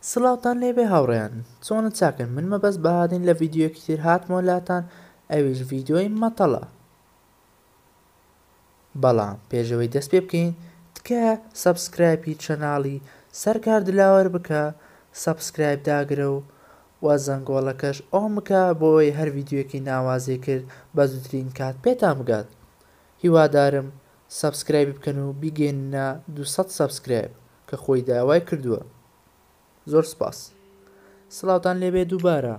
سڵاوتان لێبێ هاوڕێیان چۆنن چاکن من مەبەست بەهادین لە ڤیدیۆیەکی تر هاتمەوە لاتان ئەویش ڤیدیۆی مەتەڵە بەڵام پێش ئەوەی دەست پێ بکەین تکایە سەبسکرایپی چەناڵی سەرکار دلاوەر بکە سەبسکرایپ داگرە و وە زەنگۆڵەکەش ئۆن بکە بۆ ئەوەی هەر ڤیدیۆیەکی ناوازەی کرد بە زووترین کات پێتان بگات هیوادارم سەبسکرایبی بکەن و بیگەیننە دوو سەد سەبسکرایپ کە خۆی داوای کردووە. زۆر سپاس. سڵاوتان لێبێ دووبارە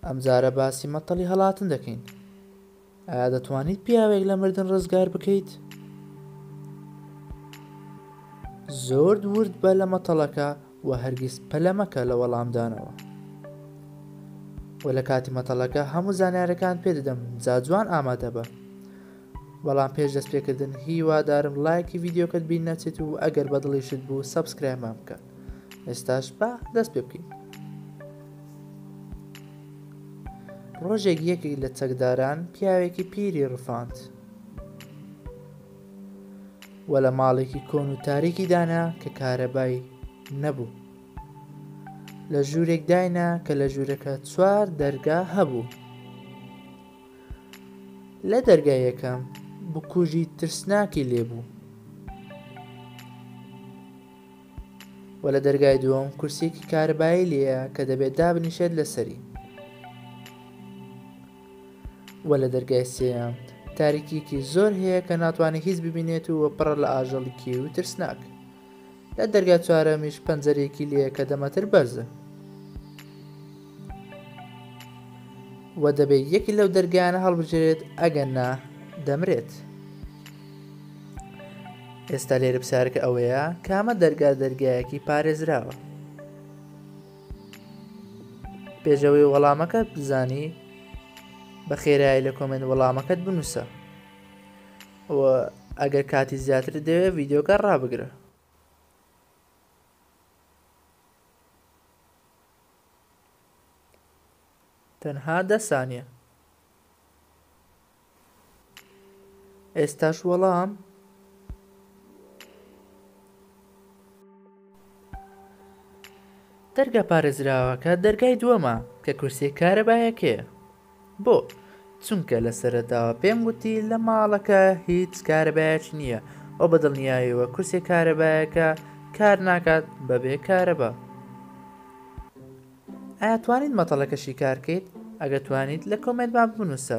ئەمجارە باسی مەتەڵی هەڵاتن دەکەین ئایا دەتوانیت پیاوێک لە مردن ڕزگار بکەیت زۆر ورد بە لە مەتەڵەکە و هەرگیز پەلەمەکە لە وەڵامدانەوە و لە کاتی مەتەڵەکە هەموو زانارەکان پێدەدەم جاجوان ئامادە بە بەڵام پێش دەست پێکردن هیوادارم ڵایکی ڤیدیۆکەت بیر نەچێت و ئەگەر بەدڵیشت بوو سەبسکرایمان بکە ئێستاش با دەست پێ بکەین ڕۆژێک یەکێک لە چەکداران پیاوێکی پیری ڕفاند وە لە ماڵێکی کۆن و تاریکی دانا کە کارەبای نەبوو لە ژوورێک داینا کە لە ژوورەکە چوار دەرگا هەبوو لە دەرگای یەکەم بکوژی ترسناکی لێبوو و لە دەرگای دووەم کورسیەکی کارەبایی لێیە کە دەبێت دابنیشێت لەسەری و لە دەرگای سێیەم تاریکیەکی زۆر هەیە کە ناتوانێت هیچ ببینێت و پڕە لە ئاژەڵی کێوی ترسناک لە دەرگای چوارەمیش پەنجەرەیەکی لێیە کە دە مەتر بەرزە و دەبێت یەکی لەو دەرگایانە هەڵبژێرێت ئەگەرنا دەمرێت ئێستا لێرە پرسیارەکە ئەوەیە کامە دەرگا دەرگایەکی پارێزراوە پێشەوەی وەڵامەکەت بزانی بە خێرایی لە کۆمنت وەڵامەکەت بنووسە و ئەگەر کاتی زیاترت دەوێت ڤیدیۆکە ڕابگرە. تەنها دە سانیە. ئێستاش وەڵام دەرگا پارێزراوەکە دەرگای دووەمە کە کورسیە کارەبایەکەیە. بۆ؟ چونکە لە سەرەتاوە پێم گوتی لە ماڵەکە هیچ کارەبایەکی نییە و بە دڵنیایەوە کورسیە کارەبایەکە کار ناکات بە بێ کارەبا. ئایا توانیت مەتەڵەکە شیکار کەیت؟ ئەگەر توانیت لە کۆمێنتمان بنووسە.